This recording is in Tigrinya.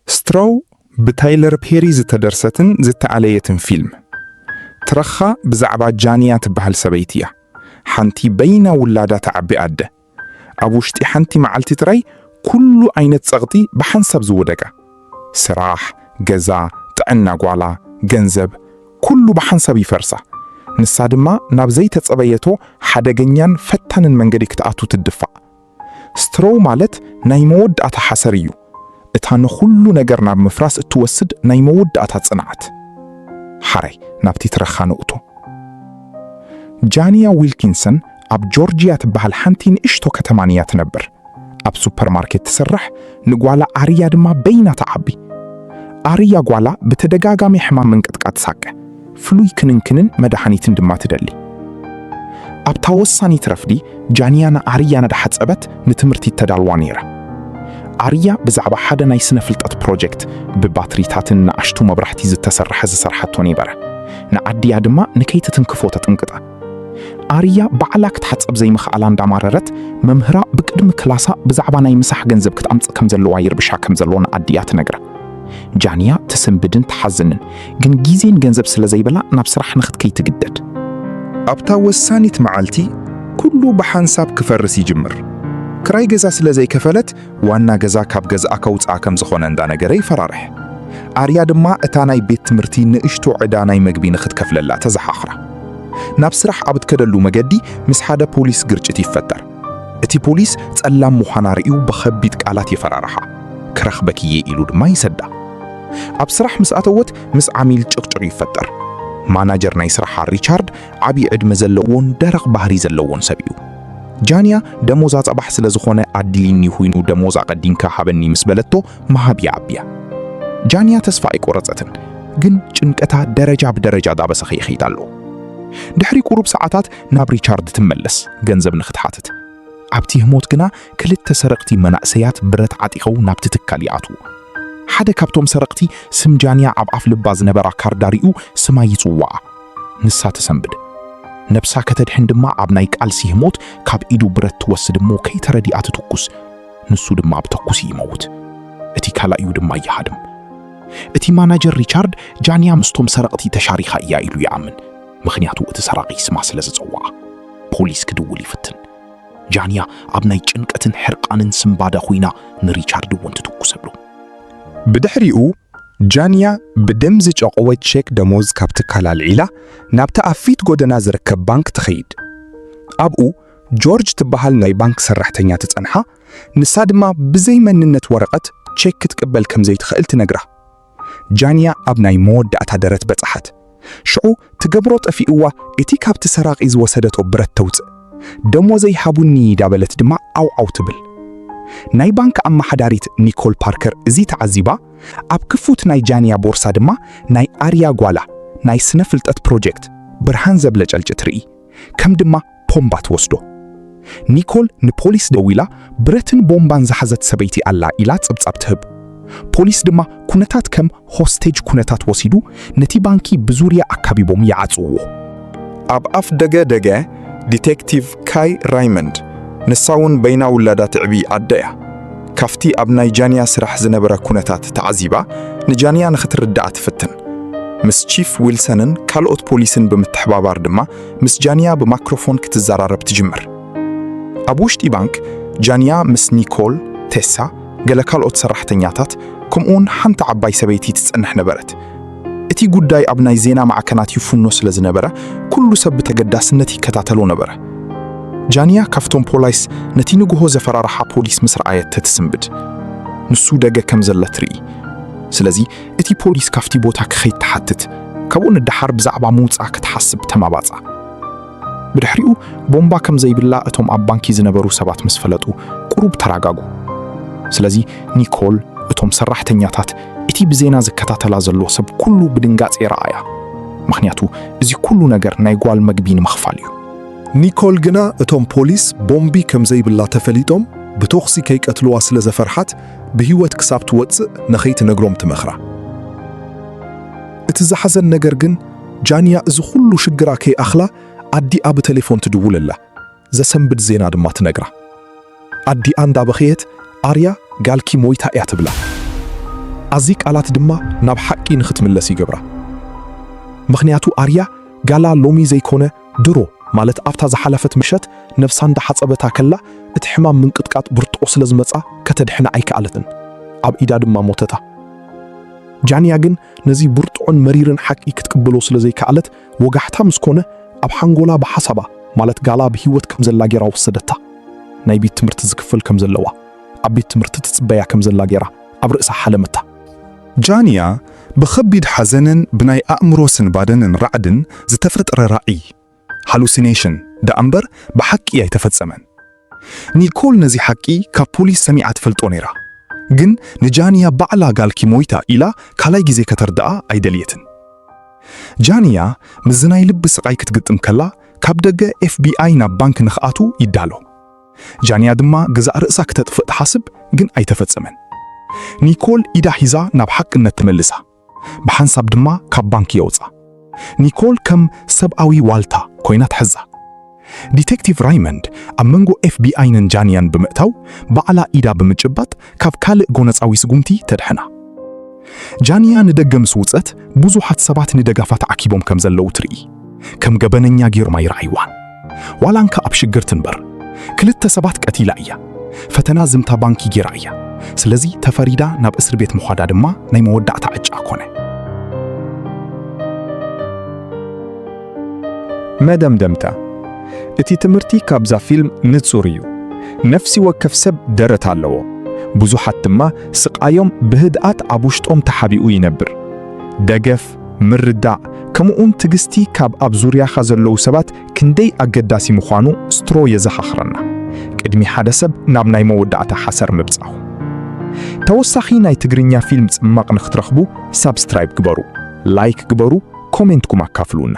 Straw ብታይለር ፔሪ ዝተደርሰትን ዝተኣለየትን ፊልም። ትረኻ ብዛዕባ ጃንያ ትበሃል ሰበይቲ እያ። ሓንቲ በይና ውላዳ ተዓቢ ኣደ። ኣብ ውሽጢ ሓንቲ መዓልቲ ጥራይ ኩሉ ዓይነት ጸቕጢ ብሓንሳብ ዝወደቃ። ስራሕ፣ ገዛ፣ ጥዕና ጓላ፣ ገንዘብ፣ ኩሉ ብሓንሳብ ይፈርሳ። ንሳ ድማ ናብ ዘይተጸበየቶ ሓደገኛን ፈታንን መንገዲ ክትኣቱ ትድፋእ። ስትሮው ማለት ናይ መወዳእታ ሓሰር እዩ፣ እታ ንኹሉ ነገር ናብ ምፍራስ እትወስድ ናይ መወዳእታ ጽንዓት። ሓራይ ናብቲ ትረኻ ንእቶ። ጃንያ ዊልኪንሰን ኣብ ጆርጅያ ትበሃል ሓንቲ ንእሽቶ ከተማን እያ ትነብር። ኣብ ሱፐርማርኬት ትስራሕ፣ ንጓላ ኣርያ ድማ በይና ትዓቢ። ኣርያ ጓላ ብተደጋጋሚ ሕማም ምንቅጥቃጥ ትሳቀ። ፍሉይ ክንንክንን መድሓኒትን ድማ ትደሊ። ኣብታ ወሳኒት ረፍዲ፣ ጃንያ ንኣርያ እናሓጸበት ንትምህርቲ እተዳልዋ ነይራ። ኣርያ ብዛዕባ ሓደ ናይ ስነ-ፍልጠት ፕሮጀክት፣ ብባትሪታትን ንኣሽቱ መብራህቲ ዝተሰርሐ ዝሰርሓቶ ነበረ። ንኣዲኣ ድማ ንከይትትንክፎ ተጥንቅቃ። ኣርያ ባዕላ ክትሓጸብ ዘይምኽኣላ እንዳማረረት፣ መምህራ ብቅድሚ ክላሳ ብዛዕባ ናይ ምሳሕ ገንዘብ ክትኣምጽእ ከም ዘለዋ ይርብሻ ከም ዘሎ ንኣዲኣ ትነግራ። ጃንያ ትስንብድን ትሓዝንን፣ ግን ግዜን ገንዘብ ስለ ዘይብላ ናብ ስራሕ ንኽትከይ ትግደድ። ኣብታ ወሳኒት መዓልቲ ኩሉ ብሓንሳብ ክፈርስ ይጅምር። ክራይ ገዛ ስለ ዘይከፈለት ዋና ገዛ ካብ ገዝኣ ከውጽኣ ከም ዝኾነ እንዳነገረ ይፈራርሕ። ኣርያ ድማ እታ ናይ ቤት ትምህርቲ ንእሽቶ ዕዳ ናይ መግቢ ንኽትከፍለላ ተዘኻኽራ። ናብ ስራሕ ኣብ እትከደሉ መገዲ ምስ ሓደ ፖሊስ ግርጭት ይፈጠር። እቲ ፖሊስ ጸላም ምዃና ርእዩ ብኸቢድ ቃላት የፈራርሓ። ክረኽበኪ'የ ኢሉ ድማ ይሰዳ። ኣብ ስራሕ ምስ ኣተወት ምስ ዓሚል ጭቕጭቕ ይፈጠር። ማናጀር ናይ ስራሓ ሪቻርድ ዓቢ ዕድመ ዘለዎን ደረቕ ባህሪ ዘለዎን ሰብ እዩ። ጃንያ ደሞዛ ጸባሕ ስለ ዝኾነ ኣድሊኒ ኹይኑ ደሞዝ ኣቐዲምካ ሃበኒ ምስ በለቶ ምሃብ ይኣቢያ። ጃንያ ተስፋ ኣይቆረጸትን ግን ጭንቀታ ደረጃ ብደረጃ ዳበሰኸ ይኸይድ ኣሎ። ድሕሪ ቁሩብ ሰዓታት ናብ ሪቻርድ ትመለስ ገንዘብ ንኽትሓትት። ኣብቲ ህሞት ግና ክልተ ሰረቕቲ መናእሰያት ብረት ዓጢኸው ናብቲ ትካል ይኣትዉ። ሓደ ካብቶም ሰረቕቲ ስም ጃንያ ኣብ ኣፍ ልባ ዝነበራ ካርዳ ሪኡ ስማ ይጽውዓ። ንሳ ተሰንብድ። ነብሳ ከተድሕን ድማ ኣብ ናይ ቃልሲ ህሞት ካብ ኢዱ ብረት ትወስድ እሞ ከይተረድኣ ትትኩስ። ንሱ ድማ ብተኩሲ ይመውት። እቲ ካልኣዩ ድማ ይሃድም። እቲ ማናጀር ሪቻርድ ጃንያ ምስቶም ሰረቕቲ ተሻሪኻ እያ ኢሉ ይኣምን። ምኽንያቱ እቲ ሰራቒ ስማ ስለ ዝጸውዓ። ፖሊስ ክድውል ይፍትን። ጃንያ ኣብ ናይ ጭንቀትን ሕርቃንን ስንባደ ኹይና ንሪቻርድ እውን ትትኩሰሉ። ብድሕሪኡ ጃንያ ብደም ዝጨቐወ ቼክ ደሞዝ ካብ ትካል ኣልዒላ ናብቲ ኣብ ፊት ጎደና ዝርከብ ባንክ ትኸይድ። ኣብኡ ጆርጅ ትበሃል ናይ ባንክ ሰራሕተኛ ትጸንሓ፣ ንሳ ድማ ብዘይ መንነት ወረቐት ቼክ ክትቅበል ከም ዘይትኽእል ትነግራ። ጃንያ ኣብ ናይ መወዳእታ ደረት በጽሓት። ሽዑ ትገብሮ ጠፊእዋ እቲ ካብቲ ሰራቒ ዝወሰደቶ ብረት ተውጽእ። ደሞዘይ ሃቡኒ ዳበለት ድማ ዓው ዓው ትብል። ናይ ባንክ ኣመሓዳሪት ኒኮል ፓርከር እዚ ተዓዚባ ኣብ ክፉት ናይ ጃንያ ቦርሳ ድማ ናይ ኣርያ ጓላ ናይ ስነ ፍልጠት ፕሮጀክት ብርሃን ዘብለጨልጭ ትርኢ ከም ድማ ፖምባ ትወስዶ። ኒኮል ንፖሊስ ደዊላ ብረትን ቦምባን ዝሓዘት ሰበይቲ ኣላ ኢላ ጸብጻብ ትህብ። ፖሊስ ድማ ኩነታት ከም ሆስቴጅ ኩነታት ወሲዱ ነቲ ባንኪ ብዙርያ ኣካቢቦም ይዓጽውዎ። ኣብ ኣፍ ደገ ደገ ዲቴክቲቭ ካይ ራይመንድ፣ ንሳውን በይና ውላዳ ትዕቢ ኣደ እያ። ካፍቲ ኣብ ናይ ጃንያ ስራሕ ዝነበረ ኩነታት ተዓዚባ ንጃንያ ንክትርድኣ ትፍትን። ምስ ቺፍ ዊልሰንን ካልኦት ፖሊስን ብምትሕባባር ድማ ምስ ጃንያ ብማክሮፎን ክትዘራረብ ትጅምር። ኣብ ውሽጢ ባንክ፣ ጃንያ ምስ ኒኮል፣ ቴሳ፣ ገለ ካልኦት ሰራሕተኛታት፣ ከምኡውን ሓንቲ ዓባይ ሰበይቲ ትጸንሕ ነበረት። እቲ ጉዳይ ኣብ ናይ ዜና ማዕከናት ይፍኖ ስለ ዝነበረ፣ ኩሉ ሰብ ብተገዳስነት ይከታተሎ ነበረ። ጃንያ ካብቶም ፖላይስ ነቲ ንግሆ ዘፈራርሓ ፖሊስ ምስ ረኣየት ተትስንብድ፣ ንሱ ደገ ከም ዘለ ትርኢ። ስለዚ እቲ ፖሊስ ካብቲ ቦታ ክኸይድ ትሓትት፣ ካብኡ ንደሓር ብዛዕባ ምውጻእ ክትሓስብ ተማባጻ። ብድሕሪኡ ቦምባ ከም ዘይብላ እቶም ኣብ ባንኪ ዝነበሩ ሰባት ምስ ፈለጡ ቁሩብ ተራጋጉ። ስለዚ ኒኮል እቶም ሰራሕተኛታት እቲ ብዜና ዝከታተላ ዘሎ ሰብ ኩሉ ብድንጋጼ ረኣያ፣ ምኽንያቱ እዚ ኩሉ ነገር ናይ ጓል መግቢ ንምኽፋል እዩ። ኒኮል ግና እቶም ፖሊስ ቦምቢ ከም ዘይብላ ተፈሊጦም ብቶኽሲ ከይቀትልዋ ስለ ዘፈርሓት ብህይወት ክሳብ ትወጽእ ንኸይትነግሮም ትመኽራ። እቲ ዘሓዘን ነገር ግን ጃንያ እዚ ኹሉ ሽግራ ከይኣኽላ ኣዲኣ ብተሌፎን ትድውለላ፣ ዘሰንብድ ዜና ድማ ትነግራ። ኣዲኣ እንዳበኸየት ኣርያ ጋልኪ ሞይታ እያ ትብላ። ኣዚ ቃላት ድማ ናብ ሓቂ ንኽትምለስ ይገብራ። ምኽንያቱ ኣርያ ጋላ ሎሚ ዘይኮነ ድሮ ማለት ኣብታ ዝሓለፈት ምሸት ነብሳ እንዳ ሓጸበታ ከላ እቲ ሕማም ምንቅጥቃጥ ብርጥቆ ስለ ዝመጻ ከተድሕና ኣይከኣለትን ኣብ ኢዳ ድማ ሞተታ። ጃንያ ግን ነዚ ብርጥዖን መሪርን ሓቂ ክትቅበሎ ስለ ዘይከኣለት ወጋሕታ ምስ ኮነ ኣብ ሓንጎላ ብሓሳባ ማለት ጋላ ብህይወት ከም ዘላ ጌራ ወሰደታ። ናይ ቤት ትምህርቲ ዝክፈል ከም ዘለዋ ኣብ ቤት ትምህርቲ ትጽበያ ከም ዘላ ጌራ ኣብ ርእሳ ሓለመታ። ጃንያ ብኸቢድ ሓዘንን ብናይ ኣእምሮ ስንባደንን ራዕድን ዝተፈጥረ ራኢ፣ Hallucination፣ ደኣ'ምበር ብሓቂ ኣይተፈጸመን። ኒኮል ነዚ ሓቂ ካብ ፖሊስ ሰሚዓ ትፈልጦ ነይራ፣ ግን ንጃንያ ባዕላ ጋልኪ ሞይታ ኢላ ካልኣይ ግዜ ከተርድኣ ኣይደልየትን። ጃንያ ምስዚ ናይ ልቢ ስቓይ ክትግጥም ከላ፣ ካብ ደገ ኤፍቢኣይ ናብ ባንክ ንኽኣትው ይዳሎ። ጃንያ ድማ ገዛእ ርእሳ ክተጥፍእ ትሓስብ ግን ኣይተፈጸመን። ኒኮል ኢዳ ሒዛ ናብ ሓቅነት ትመልሳ፣ ብሓንሳብ ድማ ካብ ባንክ የውጻ። ኒኮል ከም ሰብኣዊ ዋልታ ኮይና ትሕዛ። ዲቴክቲቭ ራይመንድ ኣብ መንጎ ኤፍቢኣይንን ጃንያን ብምእታው ባዕላ ኢዳ ብምጭባጥ ካብ ካልእ ጎነጻዊ ስጉምቲ ተድሕና። ጃንያ ንደገ ምስ ውጸት፣ ብዙሓት ሰባት ንደጋፋ ተዓኪቦም ከም ዘለዉ ትርኢ። ከም ገበነኛ ጌሮም ኣይረኣይዋን። ዋላ እንካ ኣብ ሽግር ትንበር፣ ክልተ ሰባት ቀቲላ እያ። ፈተና ዝምታ ባንኪ ጌራ እያ። ስለዚ ተፈሪዳ ናብ እስር ቤት ምዃዳ ድማ ናይ መወዳእታ ዕጫ ኮነ። መደምደምታ፣ እቲ ትምህርቲ ካብዛ ፊልም ንጹር እዩ። ነፍሲ ወከፍ ሰብ ደረት ኣለዎ፣ ብዙሓት ድማ ስቓዮም ብህድኣት ኣብ ውሽጦም ተሓቢኡ ይነብር። ደገፍ፣ ምርዳእ፣ ከምኡ'ውን ትግስቲ ካብ ኣብ ዙርያኻ ዘለዉ ሰባት ክንደይ ኣገዳሲ ምዃኑ ስትሮ የዘኻኽረና፣ ቅድሚ ሓደ ሰብ ናብ ናይ መወዳእታ ሓሰር ምብጻኹ። ተወሳኺ ናይ ትግርኛ ፊልም ጽማቕ ንክትረኽቡ፣ ሳብስክራይብ ግበሩ ላይክ ግበሩ ኮሜንትኩም ኣካፍሉና።